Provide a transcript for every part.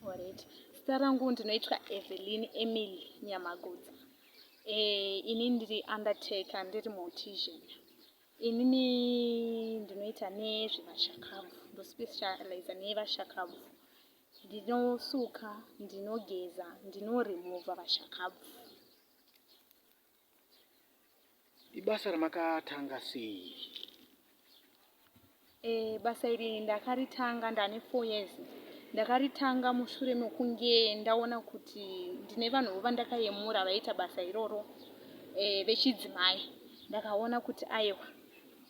Alright. Zita rangu ndinoitwa Evelyn Emily Nyamagudza. Eh, ini ndiri undertaker, ndiri mortician. Inini ndinoita nezvevashakabvu, ndospecializa nevashakabvu. Ndinosuka, ndinogeza, ndinoremova vashakabvu. ibasa ramakatanga sei e, basa iri ndakaritanga ndane four years ndakaritanga mushure mekunge ndaona kuti ndine vanhu vo vandakayemura vaiita basa iroro e, vechidzimai ndakaona kuti aiwa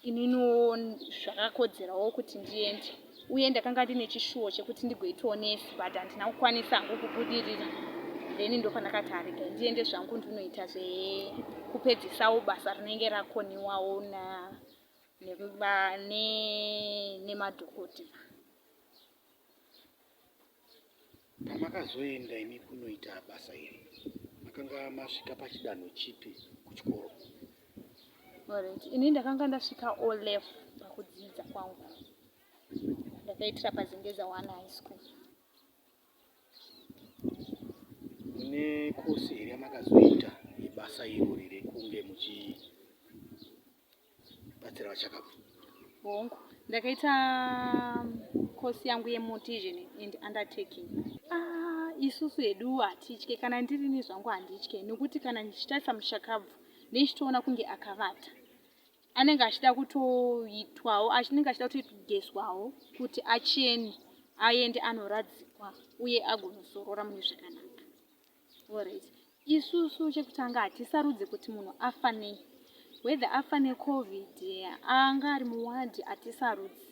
ininiwo zvakakodzerawo kuti ndiende uye ndakanga ndine chishuwo chekuti ndigoitawo nesi but handina kukwanisa hangu kubudirira then ndopandakati arega ndiende zvangu ndinoita zvekupedzisawo basa rinenge rakoniwawo nemadhokotera Pamakazoenda imi kunoita basa iri makanga masvika pachidanho chipi kuchikoro? Alright. Ini ndakanga ndasvika O level pakudzidza kwangu. Ndakaitira paZengeza one high school. Mune kosi here yamakazoita yebasa irori rekunge muchi batsira vachakabva hongu ndakaita kosi um, yangu yemotition and undertaking ah, isusu hedu hatitye kana ndirini zvangu handitye nekuti kana ndichitarisa mushakabvu nechitoona kunge akavata anenge achida kutoitwawo anenge achida kutogeswawo kuti acheni aende anoradzikwa uye agonosorora mune zvakanaka Alright. Isusu chekutanga hatisarudze kuti munhu afa nei. Whether afa neCovid anga ari muwadhi hatisarudzi.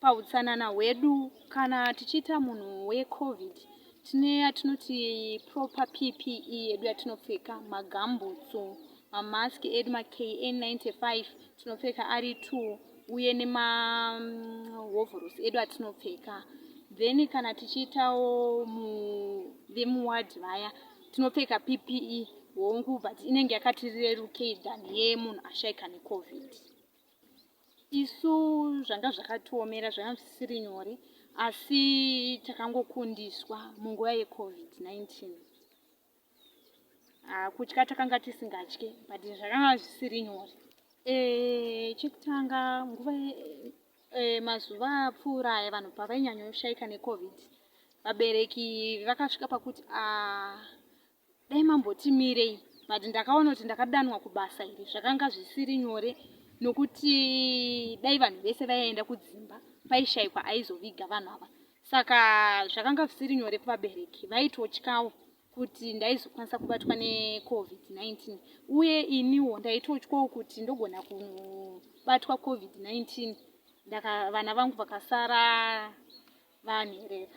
Pahutsanana hwedu kana tichiita munhu weCovid tine yatinoti proper PPE yedu yatinopfeka magambutsu mamask edu maKN95 tinopfeka ari two uye nemahovhorosi edu atinopfeka then kana tichiitawo vemuward vaya tinopfeka ppe hongu but inenge yakatirerukei than yemunhu ashaika necovid isu zvanga zvakatiomera zvanga zvisiri nyore asi takangokundiswa munguva yecovid 19 Ah, kutya takanga tisingatye but zvakanga zvisiri nyore eh, chekutanga nguva eh, mazuva apfuura aya vanhu pavainyanyoshaika necovid vabereki vakasvika pakuti ah, dai mambotimirei but ndakaona kuti ndakadanwa kubasa iri zvakanga zvisiri nyore nokuti dai vanhu vese vaienda kudzimba paishaikwa aizoviga vanhu ava saka zvakanga zvisiri nyore kuvabereki vaitotyawo kuti ndaizokwanisa kubatwa necovid-19 uye iniwo ndaitotyawo kuti ndogona kubatwa covid-19 vana vangu vakasara vanherera